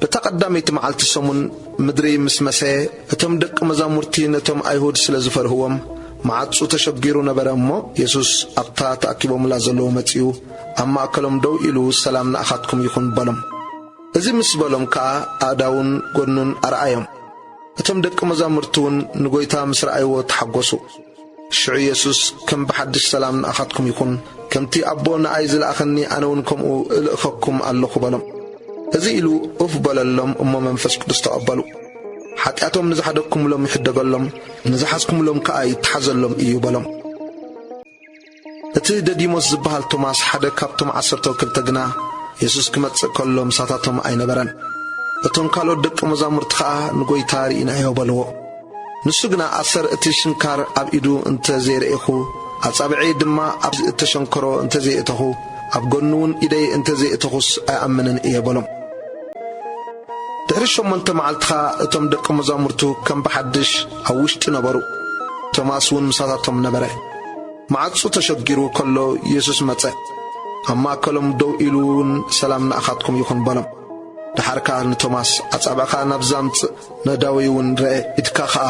እታ ቐዳመይቲ መዓልቲ ሰሙን ምድሪ ምስ መሰየ፣ እቶም ደቂ መዛሙርቲ ነቶም ኣይሁድ ስለ ዝፈርህዎም፣ መዓጹ ተሸጒሩ ነበረ እሞ፣ የሱስ ኣብታ ተኣኪቦምላ ዘለዉ መጺኡ፣ ኣብ ማእከሎም ደው ኢሉ ሰላም ንኣኻትኩም ይኹን በሎም። እዚ ምስ በሎም ከኣ ኣእዳዉን ጐድኑን ኣርኣዮም። እቶም ደቂ መዛሙርቲውን ንጐይታ ምስ ረኣይዎ ተሓጐሱ። ሽዑ የሱስ ከም ብሓድሽ ሰላም ንኣኻትኩም ይኹን፣ ከምቲ ኣቦ ንኣይ ዝለኣኸኒ ኣነ ውን ከምኡ እልእከኩም ኣሎኹ በሎም። እዚ ኢሉ ኡፍ በለሎም እሞ መንፈስ ቅዱስ ተቐበሉ። ሓጢኣቶም ንዝሓደግኩምሎም ይሕደገሎም፣ ንዝሓዝኩምሎም ከኣ ይተሓዘሎም እዩ በሎም። እቲ ደዲሞስ ዚበሃል ቶማስ፣ ሓደ ካብቶም ዓሰርተው ክልተ ግና፣ የሱስ ኪመጽእ ከሎ ምሳታቶም ኣይነበረን። እቶም ካልኦት ደቀ መዛሙርቲ ኸኣ፣ ንጐይታ ርኢናዮ በልዎ። ንሱ ግና፣ ኣሰር እቲ ሽንካር ኣብ ኢዱ እንተ ዘይረኤኹ፣ ኣጻብዕየይ ድማ ኣብዚ እተሸንከሮ እንተ ዘይእተኹ፣ ኣብ ጐኑውን ኢደይ እንተ ዘይእተኹስ፣ ኣይኣምንን እየ በሎም። ድሕሪ ሸሞንተ መዓልቲ ኸኣ፣ እቶም ደቀ መዛሙርቱ ከም ብሓድሽ ኣብ ውሽጢ ነበሩ፣ ቶማስውን ምሳታቶም ነበረ። መዓጹ ተሸጊሩ ከሎ የሱስ መጸ፣ ኣብ ማእከሎም ደው ኢሉውን ሰላም ንኣኻትኩም ይኹን በሎም። ደሓር ከኣ ንቶማስ ኣጻብዕኻ ናብዚ ኣምጽእ፣ ነእዳወይውን ርኣ፣ ኢድካ ኸኣ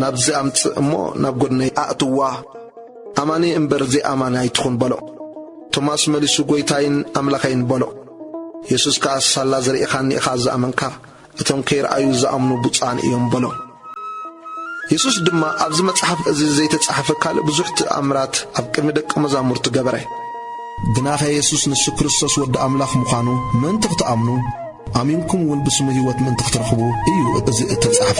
ናብዚ ኣምጽእ እሞ ናብ ጐድነይ ኣእትዋ፣ ኣማኒ እምበር ዘይኣማኒ ኣይትኹን በሎ። ቶማስ መሊሱ ጐይታይን ኣምላኸይን በሎ። የሱስ ከኣ ሳላ ዝርኢኻኒ ኢኻ ዝኣመንካ፣ እቶም ከይረኣዩ ዝኣምኑ ብፁዓን እዮም በሎም። የሱስ ድማ ኣብዚ መጽሓፍ እዚ ዘይተጻሕፈ ካልእ ብዙሕ ትእምራት ኣብ ቅድሚ ደቀ መዛሙርቱ ገበረ። ግናኸ የሱስ ንሱ ክርስቶስ ወዲ ኣምላኽ ምዃኑ ምእንቲ ኽትኣምኑ፣ ኣሚንኩም እውን ብስሙ ህይወት ምእንቲ ኽትረኽቡ እዩ እዚ እተጻሕፈ።